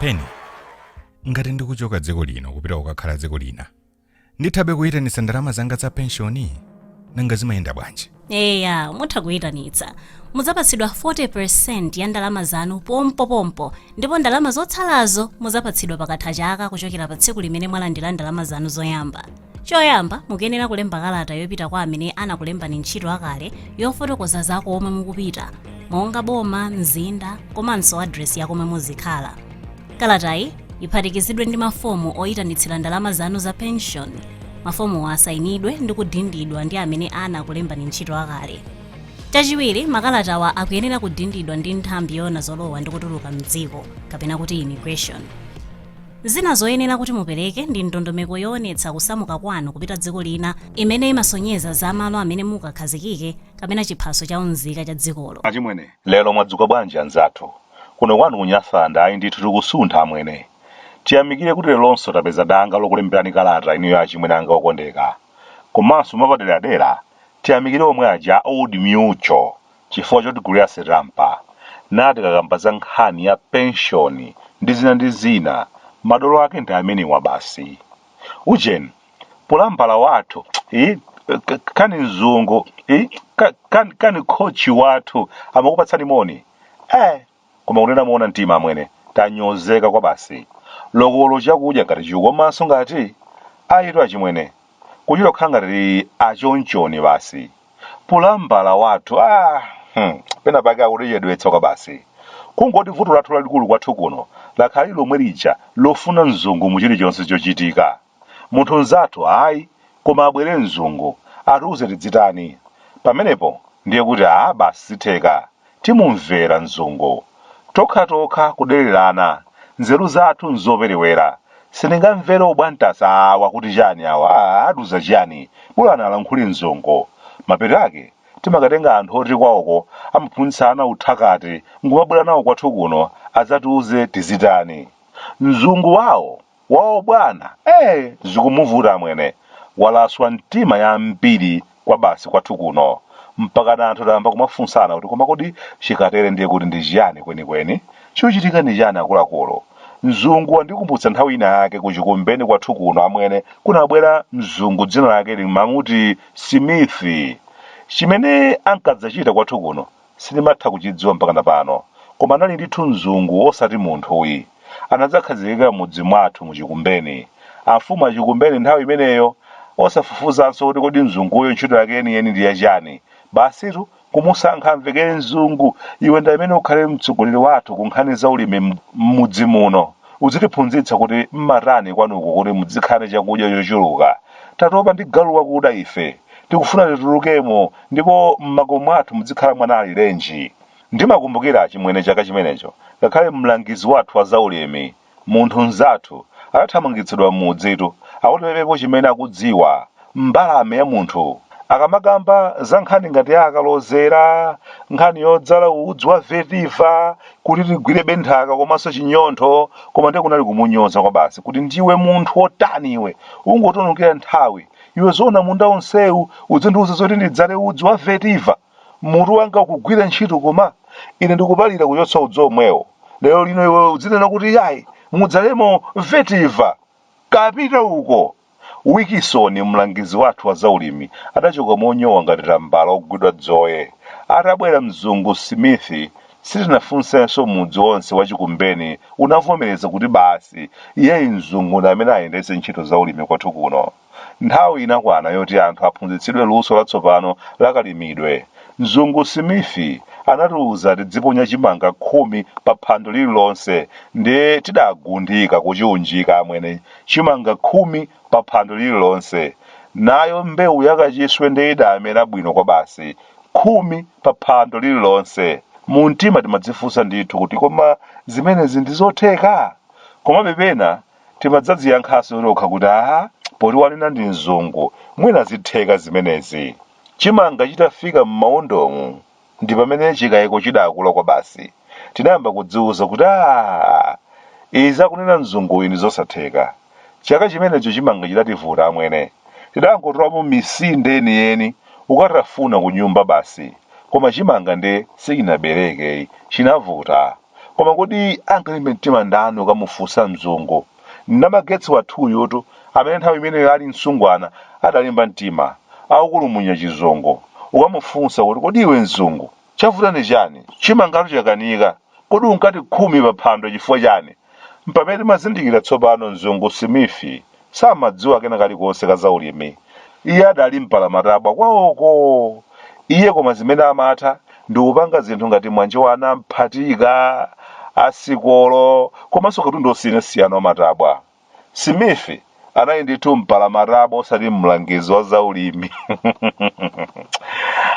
Peni ngati ndikuchoka dziko lino kupita kukakhala dziko lina ndithabe kuyitanitsa ndalama zanga za penshoni nanga zimayenda bwanji eya mutha kuyitanitsa muzapatsidwa 40% ya ndalama zanu pompopompo ndipo ndalama zotsalazo mudzapatsidwa pakatha chaka kuchokera pa tsiku limene mwalandira ndalama zanu zoyamba choyamba mukuyenera kulemba kalata yopita kwa amene anakulembani ntchito akale yofotokoza za komwe mukupita monga boma mzinda komanso adresi ya komwe muzikhala Kalatayi iphatikizidwe ndi mafomu oyitanitsira ndalama zanu za penshoni. Mafomuwa asayinidwe ndi kudindidwa ndi amene anakulembani ntchito akale. Chachiwiri, makalatawa akuyenera kudindidwa ndi nthambi yoona zolowa ndi kutuluka m'dziko, kapena kuti immigration. Zina zoyenera kuti mupereke ndi ndondomeko yoonetsa kusamuka kwanu kupita dziko lina imene imasonyeza za malo amene mukakhazikike kapena chiphaso cha unzika cha dzikolo. Achimwene, lero mwadzuka bwanji anzathu? Kuno kwanu ku Nyasaland ayi ndithu tikusuntha amwene. Tiyamikire kuti leronso tapeza danga lokulemberani kalata inuyo achimwene anga okondeka. Komanso mwapaderadera tiyamikire omwe aja a Old Mutual chifukwa chotigulira sitampa natikakamba za nkhani ya penshoni ndi zina ndi zina. Madolo ake ndi amenewa basi. Ujeni. pulambala wathu eh, k- kani mzungu eh, ka- kani, kani kochi wathu amakupatsani moni eh, koma kunena muona mtima amwene tanyozeka kwa basi lokolo chakudya ngati chikukoma ngati ayitu achimwene kuchita kukhala ngati achonchoni basi pulambala wathu ah, hmm, pena pake akutichedwetsa kwa basi kungoti vuto lathu lalikulu kwathu kuno lakhala lomwe lija lofuna mzungu mu chilichonse chochitika Munthu mzathu, ayi, koma abwere mzungu, atiuze tidzitani. Pamenepo ndiye kuti aa basi zitheka, timumvera mzungu. Tokhatokha kudererana, nzeru zathu nzoperewera. Sindingamvere ubwantasa awa kuti chani awa, aa atiuza chiyani, bolani alankhule mzungu. Mapeto ake timakatenga anthu oti kwawoko amaphunzitsana uthakati nkumabwera nawo kwathu kuno adzatiuze tizitani. Mzungu wawo! Woo bwana ee zikumuvuta amwene walaswa mitima yambiri kwabasi kwathu kuno mpakana anthu tayamba kumafunsana kuti koma kodi chikatere ndiye kuti ndi chiyani kwenikweni chikuchitika ndi chani akuluakulu mzungu wandikumbutsa nthawi ina yake ku Chikumbeni kwathu kuno amwene kunabwera mzungu dzina lake lina amati simithi chimene ankadzachita kwathu kuno Sindimatha kuchidziwa mpakana pano, koma anali ndithu mzungu osati munthuyi. Anadzakhazikika m'mudzi mwathu mu Chikumbeni. Amfumu a Chikumbeni nthawi imeneyo, osafufuzanso kuti kodi mzunguyo ntchito yake yeniyeni ndi yachani, basitu kumusankha amvekere mzungu, iwe ndi amene ukhale mtsogoleri wathu ku nkhani za ulimi m'mudzi muno. Udzitiphunzitsa kuti mmatani kwanuko kuti mudzikhala ndi chakudya chochuluka. Tatopa ndi galu wakuda ife. Tikufuna titulukemo ndipo mmakomo mwathu mudzikhala mwana alirenji. Ndimakumbukira achimwene chaka chimenecho ngakhale mlangizi wathu wa zaulimi, munthu mnzathu, adathamangitsidwa mmudzitu akuti pepepo chimene akudziwa Mbalame ya munthu. Akamakamba za nkhani ngati ya kalozera, nkhani yodzala udzu wa vetiva kuti tigwire bwino nthaka komanso chinyontho, koma ndiye kunali kumunyoza kwabasi kuti ndiwe munthu wotani iwe, ungotionongera nthawi. Iwe zoona munda wonsewu udzindiuza zoti ndidzale udzu wa vetiva? Mutu wako ukugwira ntchito koma? Ine ndikupalira kuchotsa udzu womwewo. Lero lino iwe udzinena kuti iyayi, mudzalemo vetiva? Kapita uko! Wikisoni, mlangizi wathu wa zaulimi, adachoka monyowa ngati tambala wogwidwa dzoye. Atabwera mzungu Simithi, sitinafunsenso mudzi wonse wa Chikumbeni unavomereza kuti basi, iyeyi mzungu ndi amene ayendetse ntchito zaulimi kwathu kuno. Nthawi inakwana yoti anthu aphunzitsidwe luso latsopano la kalimidwe. Mzungu Simithi anatiuza tidziponya chimanga khumi pa phando lililonse ndiye tidagundika kuchiunjika amwene. chimanga khumi pa phando lililonse. Nayo mbewu ya kachiswe nde idamera bwino kwabasi. Khumi pa phando lililonse. Mumtima timadzifunsa ndithu kuti koma zimenezi ndi zotheka? Komabe pena timadzadziyankhanso tokha kuti aa, poti wanena ndi mzungu, mwina zitheka zimenezi. Chimanga chitafika m'mawondomu, Ndi pamene chikaiko chidakula kwabasi. Tinayamba kudziuza kuti aah! Izi akunena mzunguyu ndi zosatheka. Chaka chimenecho chimanga chidativuta amwene. Tidangotolapo misinde yeniyeni kukatafuna kunyumba basi. Koma chimanga nde sichinabereke yi, chinavuta. Koma kodi angalimbe mtima ndani kukamufunsa mzungu? Namagetsi wathuyutu, amene nthawi imeneyo ali msungwana adalimba mtima, akukulumunya chizungu. Kukamufunsa kuti, Kodi iwe mzungu, chavuta ndi chani? Chimangatu chakanika. Kodi unkati khumi pa phando chifukwa chani? Mpamene tinazindikira tsopano mzungu Simithi samadziwa kena kalikonse ka zaulimi. Iye adali mpalamatabwa kwawoko. Iye koma zimene amatha ndi kupanga zinthu ngati mwanje wa anamphatika, asikolo komanso katundu osiyanasiyana wa matabwa. Smith anali ndithu mpalamatabwa osati mlangizi wa zaulimi.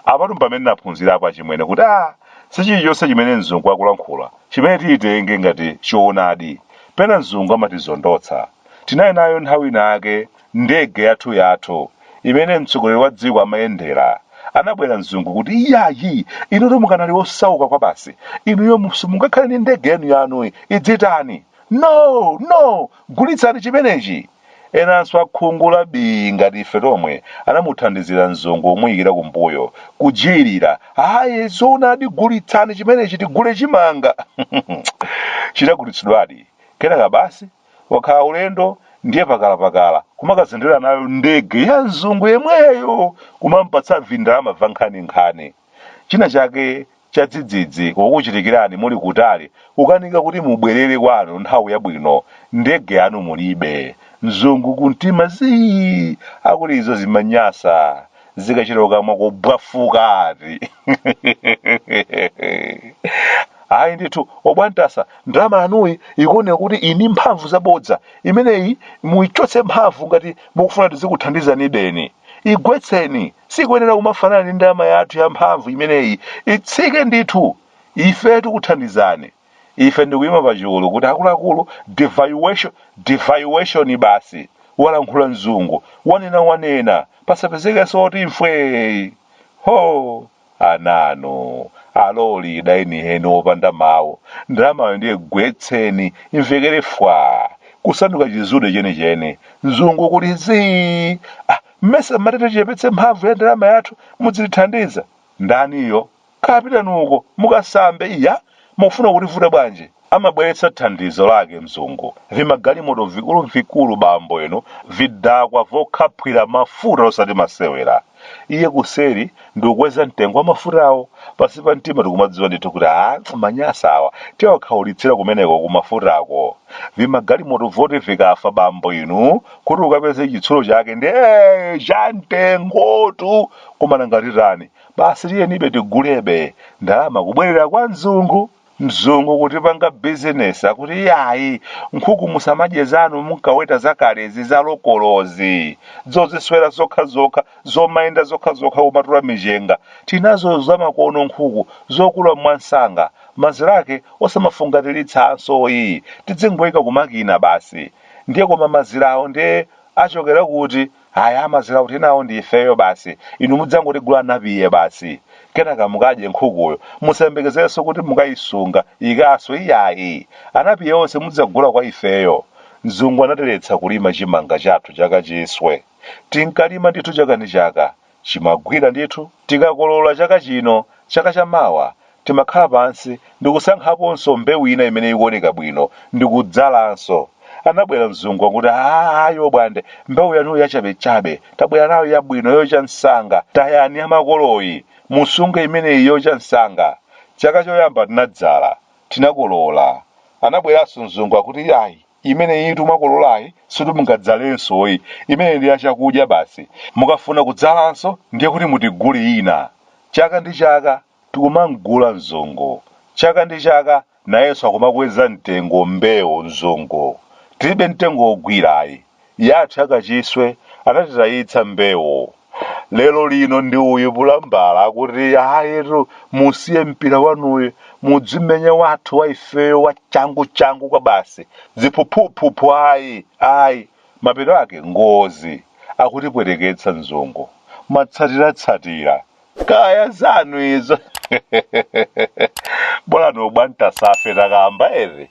Apatu mpamene naphunzirapo achimwene kuti a si chilichonse chimene mzungu akulankhula chimene tiyitenge ngati choonadi. Pena mzungu amatizondotsa. Tinali nayo nthawi inayake Ndege yathuyathu, imene mtsogoleri wa dziko amayendera, anabwera mzungu kuti, Iyayi! Inutu mukanali osauka kwabasi. Inuyo simungakhale ndi ndege yanuyanu. Idzitani? No! No! Gulitsani chimenechi! Enanso a khungu la bii ngati ife tomwe anamuthandizira mzungu kumuyikira kumbuyo, kujijirira, Ayi, zoonadi gulitsani chimenechi tigule chimanga! Chidagulitsidwadi. Kenaka basi! Wakhala ulendo ndiye pakalapakala kumakazendera nayo ndege ya mzungu yemweyo kumampatsa vindalama vankhaninkhani. China chake chadzidzidzi kukuchitikirani muli kutali kukanika kuti mubwerere kwanu nthawi yabwino, ndege yanu mulibe. Mzungu kumtima zii akuti izo zimanyasa. zikachita kukamwa kobwafuka ati ayi ndithu obwantasa ndalama yanuyi ikuoneka kuti ili ndi mphamvu zabodza imeneyi muichotse mphamvu ngati mukufuna tizikuthandizani then igwetseni sikuyenera kumafanana ndi ndalama yathu ya mphamvu imeneyi itsike ndithu ife tikuthandizani ife ndikuyima pa chulu kuti akuluakulu devaluation devaluation basi walankhula mzungu wanena wanena pasapezekenso oti mfwee ho ananu aloli dainiheni opanda mawu ndalamayo ndiye gwetseni imvekere fwa kusanduka chizude chenicheni mzungu kuli zii ah, mmesa mmati tichepetse mphamvu ya ndalama yathu mudzitithandiza ndaniyo Kazipitani uko, mukasambe. Iya, mukufuna kutivuta bwanji? Amabweretsa thandizo lake, mzungu. Vimagalimoto vikulu vikulu, bambo inu, vidakwa vokhaphwira mafuta osati masewera. Iye kuseri, ndikukweza mtengo wa mafutawo, pansi pa mtima ndikumadziwa ndithu kuti, Amanyasa awa, tiwakhaulitsira kumeneko ku mafutako. Vimagalimoto voti vikafa, bambo inu, kuti ukapeze chitsulo chake, ndi cha mtengotu! Koma nanga titani? basi tiyenibe tigulebe ndalama kubwerera kwa mzungu mzungu kutipanga bizinesi akuti iyayi nkhuku musamadye zanu munkaweta zakalezi za lokolozi zoziswera zokha zokha zomayenda zokha zokha kumatola michenga tinazo zamakono nkhuku zokula mwamsanga mazira ake osamafungatiritsanso ayi tidzingoyika kumakina basi ndiye koma mazirawo ndiye achokera kuti Ayi amazira kuti tinawo ndi ifeyo basi. Inu mudzangotigula anapiye basi. Kenaka mukadye nkhukuyo. Musayembekezerenso kuti mukayisunga, ikaswe, iyayi. Anapiye onse mudzagula kwa ifeyo. Mzungu anatiletsa kulima chimanga chathu cha kachiswe. Tinkalima ndithu chaka ndi chaka. Chimagwira ndithu. Tikakolola chaka chino, chaka chamawa timakhala pansi ndi kusankhaponso mbewu ina imene ikuoneka bwino ndi kudzalanso. Anabwera mzungu akuti, Aaa ayo bwande, mbewu yanuyi yachabechabe. Tabwera nayo yabwino yocha msanga. Tayani yamakoloyi, musunge imeneyi yocha msanga. Chaka choyamba tinadzala, tinakolola. Anabweranso mzungu akuti, Ayi. imeneyitu mwakololayi sikuti mungadzalenso ayi imeneyi ndi ya chakudya basi mukafuna kudzalanso ndiye kuti mutigule ina chaka ndi chaka tikumamgula mzungu chaka ndi chaka nayenso akumakweza mtengo mbewu mzungu tilibe mtengo wogwirayi yathu ya kachiswe anatitayitsa mbewu lero lino ndi uyu Pulambala akuti ayetu musiye mpira wanuyu mudzimenye wathu wa ifeyo wa changu changu kwa basi ziphuphuphuphu ayi ayi mapeto ake ngozi akutipweteketsa mzungu matsatiratsatira kaya zanu izo bolani ubwantasafe takamba eti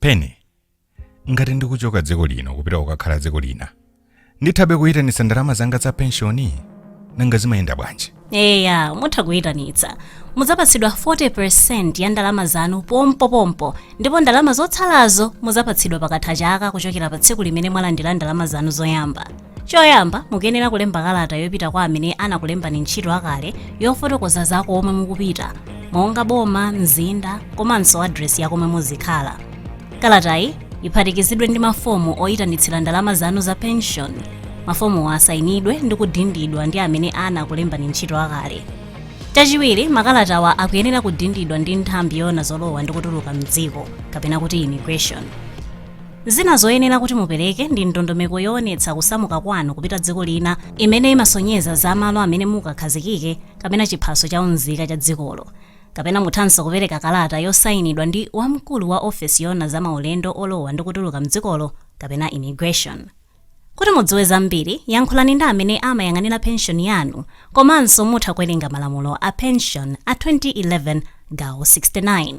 pene ngati ndikuchoka dziko lino kupita kukakhala dziko lina ndithabe kuyitanitsa ndalama zanga za penshoni nanga zimayenda bwanji eya mutha kuyitanitsa mudzapatsidwa 40 ya ndalama zanu pompopompo ndipo ndalama zotsalazo mudzapatsidwa pakatha chaka kuchokera pa tsiku limene mwalandira ndalama zanu zoyamba choyamba mukuyenera kulemba kalata yopita kwa amene anakulembani ntchito akale yofotokoza za komwe mukupita monga boma mzinda komanso adresi ya komwe muzikhala kalatayi iphatikizidwe ndi mafomu oyitanitsira ndalama zanu za pension mafomuwa asayinidwe ndi kudindidwa ndi amene anakulembani ntchito akale chachiwiri makalatawa akuyenera kudindidwa ndi nthambi yoona zolowa ndi kutuluka mdziko kapena kuti immigration Zina zoyenera kuti mupereke ndi ndondomeko yoonetsa kusamuka kwanu kupita dziko lina imene imasonyeza za malo amene mukakhazikike kapena chiphaso cha unzika cha dzikolo. Kapena muthanso kupereka kalata yosainidwa ndi wamkulu wa ofesi yoona za maulendo olowa ndi kutuluka m'dzikolo kapena Immigration. Kuti mudziwe zambiri, yankhulani ndi amene amayang'anira penshoni yanu komanso mutha kuwerenga malamulo a penshoni a 2011 gawo 69.